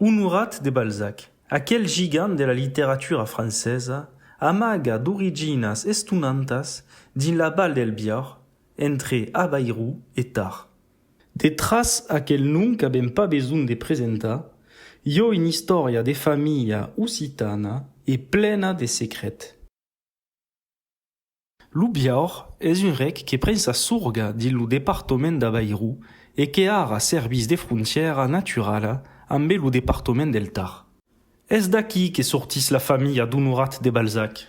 Onorat de Balzac, aquel gigant de la literatura francesa amaga d'originas estonantas dins la Val del Biòrn, entre Abairou e Tard. Detràs aquel nom qu'avèm pas besonh de presentar, i ò una istòria de familha occitana e plena de secrets. Lo Biaur es un rec que pren sa sorga dins lo departament d'Avairu e que ara servís de frontièra naturala ambe lo departament del Tar. Es d'aquí que sortís la familha d'Onorat de Balzac.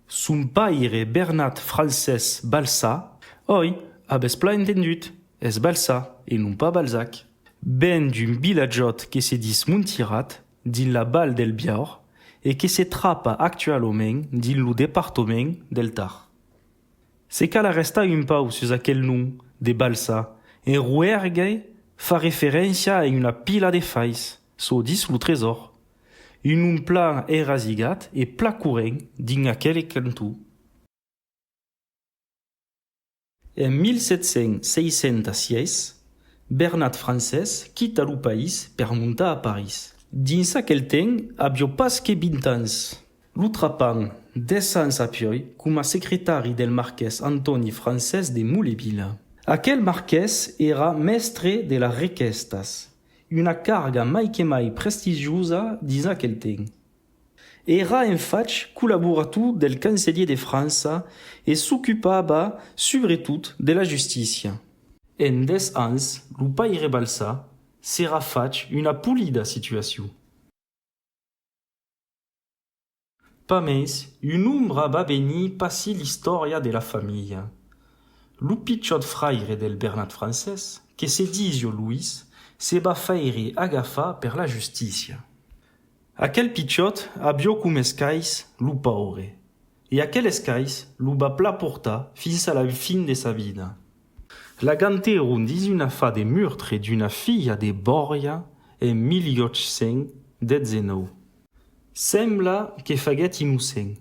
Son paire Bernat Francés Balsà, oi, avètz plan entendut, es Balsà e non pas Balzac, ven d'un vilatjòt que se dis Montirat, dins la Val del Biaur e que se trapa actualament dins lo departament del Tar. Se cal arrestar un pauc sus aquel nom de balsa, en Rouergue fa referéncia a una pila de fais, çò ditz lo Tresor, un nom plan erasigat e plan corrent dins aquel canton. En 1766, Bernat Francés quita lo país per montar a París. Dins aquel temps, avió pas que 20 ans. Lo trapan, 10 ans apioi, coma secretari del marqués Antòni Francés de Molevila. Aquel marqués èra mèstre de las requèstas, una carga mai que mai prestigiosa dins aquel temps. Èra en fach collaborator del cancelhier de França e s'ocupava subretot de la justícia. En dètz ans, lo paire Balsa s'èra fach una polida situacion. Pas mens, un ombra va venir passi l'istòria de la familha. Lo pichòt fraire del Bernat Francés, que se disio Louis, se va faire agafar per la justícia. Aquel pichòt avió com escais lo paure, e aquel escais lo va pla portar fins a la fin de sa vida. La ganteron dins una fa de murtre d'una filha de Bòrja en 1819. Sembla que faguèt innocent,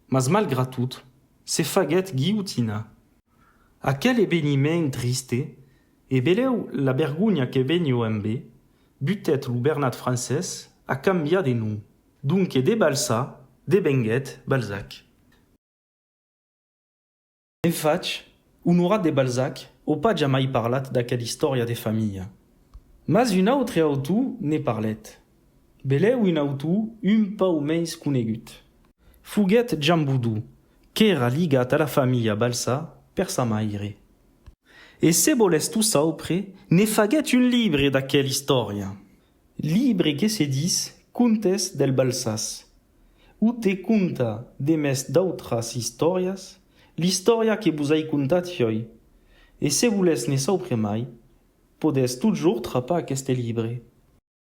mas malgrat tot, se faguèt guilhotinar. Aquel eveniment triste E beleu la bergonha que veniu embé, butèt lo Bernat Francés a cambiar de nom. Donque de Balsa devenguèt Balzac. En fach, Onorat de Balzac o pas jamai parlat d'aquel istòria de familha. Mas un autre autor ne parlèt, Belèu un autor un pauc mens conegut. Foguèt Jan Boudou, qu'èra ligat a la familha Balsà per sa maire. E se volètz tot saupre, ne faguèt un libre d'aquela istòria. Libre que se dis Contes del Balsàs, o te conta, demest d'autras istòrias, l'istòria que vos ai contat joi. E se volètz ne saupre mai, podètz totjorn trapar aqueste libre.